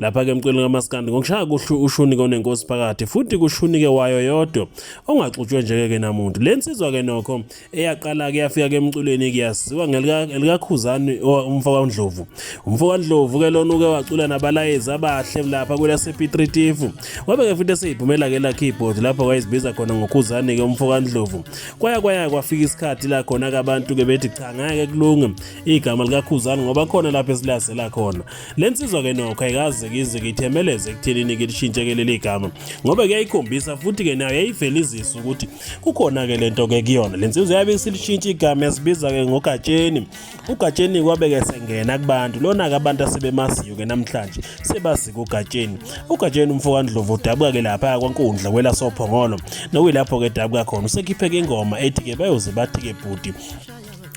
lapha-ke emcweleni kamaskandi ngokushaya kuhlu ushunike onenkosi phakathi futhi kushunike wayo yodwa ongaxutshwe njeke-ke namuntu le nsizwa-ke nokho eyaqala-ke yafika-ke emculweni kuyaziwa ngelikakhuzani umfo kandlovu umfo kandlovu-ke lona uke wacula nabalayezi abahle lapha kwelasepitritifu wabe-ke futhi eseyiphumela-ke la keyboard lapho wayezibiza khona ngokhuzani-ke umfo kandlovu kwaya kwaya kwafika isikhathi la khona-ke abantu-ke bethi cha ngeke kulunge igama likakhuzani ngoba khona lapho esilazela khona le nsizwa-ke nokho ayikazikizi kithemeleze ekuthenini ke lishintshe-ke leli gama ngoba kuyayikhombisa futhi-ke nayo yayivelizisa ukuthi kukhona-ke le nto-ke kuyona le nsizwa yabe isilishintsha igama yasibiza-ke ngogatsheni ugatsheni kwabe-ke sengena kubantu lona-ke abantu asebemaziyo-ke namhlanje sebazika ugatsheni ugatsheni umfokandlovu udabuka-ke lapha kwankundla kwelasophongolo nokuyilapho-ke dabuka khona usekhipheke ingoma ethi-ke bayoze bathi-ke bhuti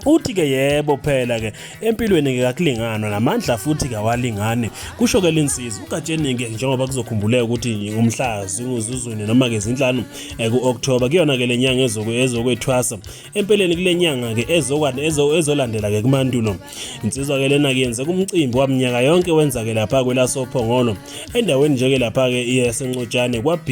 Uthi ke yebo phela ke empilweni ke kakulinganwa namandla futhi kawalingani kusho ke linsizwa uGatsheni ke njengoba kuzokhumbuleka ukuthi umhla zinguzuzwini noma ke zinhlanu eh, kuOctober kuyona ke lenyanga ezoku ezokwethwasa empeleni kulenyanga ke ezokwane ezolandela ke kumandulo insizwa ke lena ke yenze kumcimbi wamnyaka yonke wenza ke lapha kwelasophongolo endaweni nje ke lapha ke iyasencotshane kwaB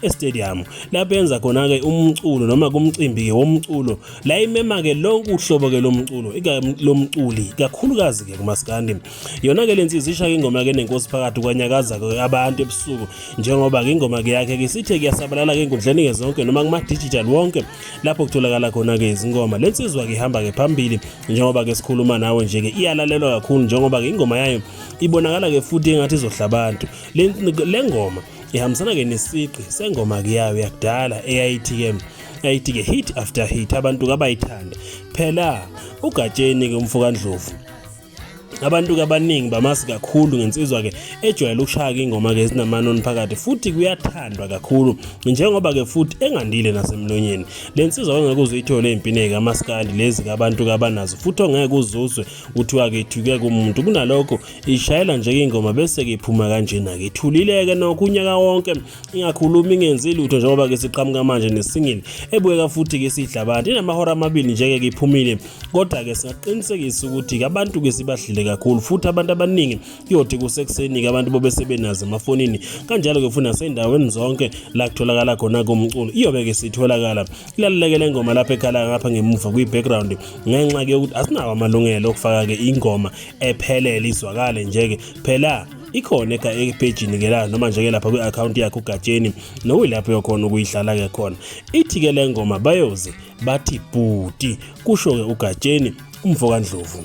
e-stadium lapho yenza khona ke umculo noma kumcimbi ke womculo la imema ke lonke uhlobo ke lomculo lomculi kakhulukazi ke kumaskandi yona ke lensizi isha ingoma ke nenkosi phakathi kwanyakaza ke abantu ebusuku njengoba ke ingoma ke yakhe ke sithe kuyasabalala ke inkundleni ke zonke noma kuma digital wonke lapho kutholakala khona ke izingoma lensizwa ke ihamba ke phambili njengoba ke sikhuluma nawe nje ke iyalalelwa kakhulu njengoba ke ingoma yayo ibonakala ke futhi engathi izohla abantu lengoma ihambisana ke nesiqi sengoma ke yayo yakudala eyayithi ke yayithi ke hit after hit abantu kabayithande phela ugatsheni ke umfokandlovu abantu kabaningi bamazi kakhulu ngensizwa ke ejwayele ukushaya ingoma ke ezinamanon phakathi futhi kuyathandwa kakhulu njengoba ke futhi engandile nasemlonyeni lensizwa ongeke uzuyithole impineke amaskandi lezi kabantu kabanazo futhi ongeke uzuzwe kuthiwa ke ithuke kumuntu kunalokho ishayela nje ingoma bese ke iphuma kanjena ke ithulileke nokho unyaka wonke ingakhulumi ingenzi lutho njengoba ke siqhamuka manje nesingle ebukeka futhi ke sidla abantu inamahora amabili nje ke iphumile kodwa ke singaqinisekisa ukuthi ke abantu ke sibadlile kakhulu futhi abantu abaningi kuyothi kusekuseni ke abantu bobe sebenazi emafonini kanjalo ke futhi nasendaweni zonke la kutholakala khona komculo iyobe ke sitholakala ilaleleke le ngoma lapha ekhala ngapha ngemuva kwi background ngenxa ke ukuthi asinawo amalungelo okufaka ke ingoma ephelele izwakale nje ke phela ikhona epejini ke la noma nje-ke lapha kwi-akhawunti yakho ugatsheni nokuyilapho yokhona ukuyidlala-ke khona ithi-ke le ngoma bayoze bathi bhuti kusho-ke ugatsheni umfo kandlovu